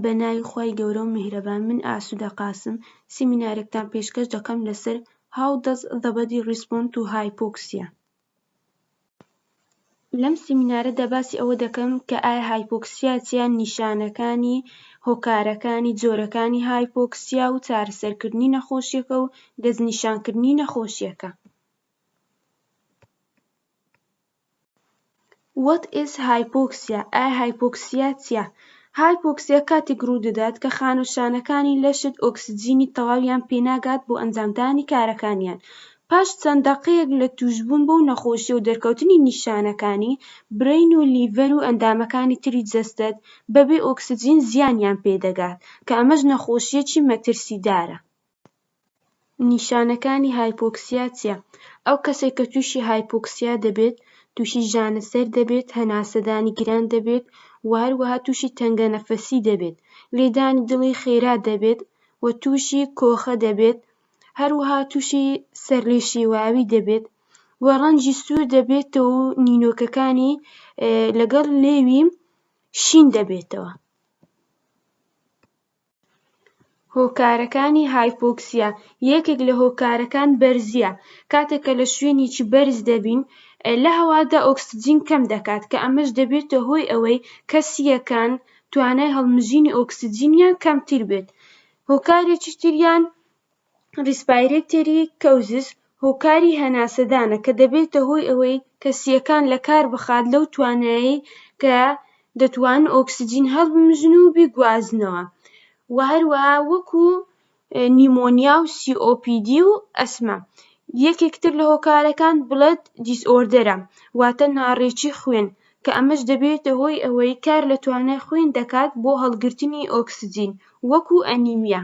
بە ناوی خوای گەورە و میهرەبان من ئاسودە قاسم سیمینارێکتان پێشکەش دەکەم لەسەر How does the body respond to hypoxia لەم سیمینارەدا باسی ئەوە دەکەم کە ئایا هایپۆکسیا چیە نیشانەکانی هۆکارەکانی جۆرەکانی هایپۆکسیا و چارەسەرکردنی نەخۆشیەکە و دەستنیشانکردنی نەخۆشیەکە. What is Hypoxia ئایا هایپۆکسیا چیە؟ هایپۆکسیا کاتێک ڕوودەدات کە خانە و شانەکانی لەشت ئۆکسجینی تەواویان پێناگات بۆ ئەنجامدانی کارەکانیان پاش چەند دەقەیەک لە تووشبوون بەو نەخۆشیە و دەرکەوتنی نیشانەکانی برین و لیڤەر و ئەندامەکانی تری جەستەت بەبێ ئۆکسجین زیانیان پێدەگات کە ئەمەش نەخۆشیەکی مەترسیدارە. نیشانەکانی هایپۆکسیا چیە؟ ئەو کەسەی کە تووشی هایپۆکسیا دەبێت تووشی ژانە سەر دەبێت، هەناسەدانی گران دەبێت و هەروەها تووشی تەنگە نەفەسی دەبێت، لێدانی دڵی خێرا دەبێت و تووشی کۆخە دەبێت، هەروەها تووشی سەرلێشێواوی دەبێت و ڕەنجی سوور دەبێتەوە و نینۆکەکانی لەگەڵ لێوی شین دەبێتەوە. هۆکارەکانی هایپۆکسیا یەکێک لە هۆکارەکان بەرزییە کاتێک کە لە شوێنێکی بەرز دەبین لە هەوادا ئۆکسجین کەم دەکات کە ئەمەش دەبێتە هۆی ئەوەی کە سییەکان توانای هەڵمژینی ئۆکسجینیان کەمتر بێت هۆکارێکی تریان ریسپایرێتێری کەوزس، هۆکاری هەناسەدانە کە دەبێتە هۆی ئەوەی کەسییەکان لە کار بخات لەو توانایەی کە دەتوانن ئۆکسجین هەڵبمژن و بیگوازنەوە و هەروەها وەکوو نیمۆنیا و سی ئۆ پی دی و ئەسما. یەکێک تر لە هۆکارەکان بڵەد دیسئۆردەرە واتە ناڕێکی خوێن کە ئەمەش دەبێتە هۆی ئەوەی کار لە توانای خوێن دەکات بۆ هەڵگرتنی ئۆکسجین وەکوو ئەنیمیا.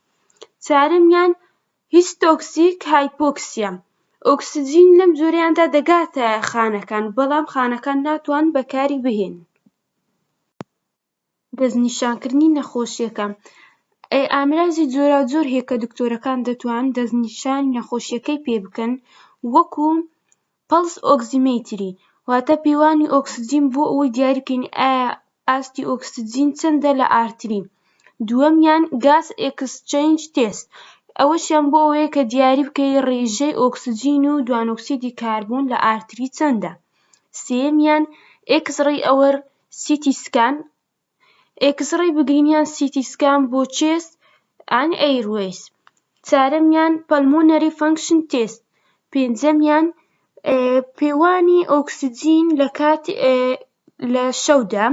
چوارەمیان هیستۆکسیک هایپۆکسیە ئۆکسجین لەم جۆرەیاندا دەگاتە خانەکان بەڵام خانەکان ناتوان بەکاری بهێنن دەستنیشانکردنی نەخۆشیەکە ئامرازی جۆراوجۆر هەیە کە دکتۆرەکان دەتوان دەستنیشانی نەخۆشیەکەی پێ بکەن وەکو پەڵس ئۆکسیمەیتری، واتە پێوانی ئۆکسجین بۆ ئەوەی دیاری بکەین ئایا ئاستی ئۆکسجین چەندە لە ئارتری. دووەمیان گاس ئێکسچەینج تێست، ئەوەشیان بۆ ئەوەیە کە دیاری بکەی ڕێژەی ئۆکسجین و دوانۆکسیدی کاربۆن لە ئارتری چەندە. سێیەمیان ئێکسڕەی ئەوەر سیتی سکان، ئێکسڕەی بگرین یان سیتی سکان بۆ چێست ئەند ئەیروەیس، چارەمیان پەلمۆنەری فەنکشن تێست، پێنجەمیان پێوانی ئۆکسجین لە شەودا،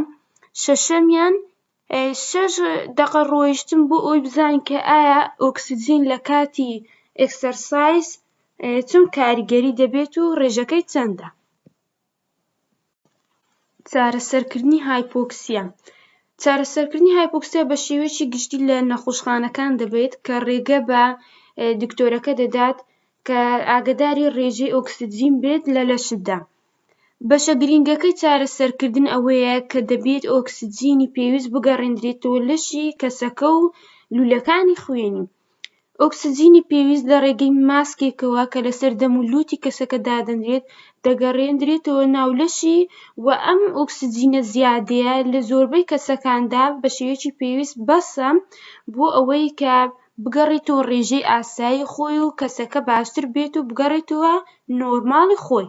شەشەمیان شەش دەقە ڕۆیشتن بۆ ئەوەی بزانین کە ئایا ئۆکسجین لە کاتی ئێکسەرسایز چۆن کاریگەری دەبێت و ڕێژەکەی چەندە. چارەسەرکردنی هایپۆکسیا چارەسەرکردنی هایپۆکسیا بە شێوەیەکی گشتی لە نەخۆشخانەکان دەبێت کە ڕێگە بە دکتۆرەکە دەدات کە ئاگداری ڕێژەی ئۆکسجین بێت لە لەشتدا بەشە گرنگەکەی چارەسەرکردن ئەوەیە کە دەبێت ئۆکسجینی پێویست بگەڕێنرێتەوە لەشی کەسەکە و لولەکانی خوێنی ئۆکسجینی پێویست لە ڕێگەی ماسکێکەوە کە لەسەر دەم و لووتی کەسەکە دادەنرێت دەگەڕێنرێتەوە ناو لەشی و ئەم ئۆکسجینە زیادەیە لە زۆربەی کەسەکاندا بە شێوەیەکی پێویست بەسە بۆ ئەوەی کە بگەڕێتەوە ڕێژەی ئاسایی خۆی و کەسەکە باشتر بێت و بگەڕێتەوە نۆرماڵی خۆی.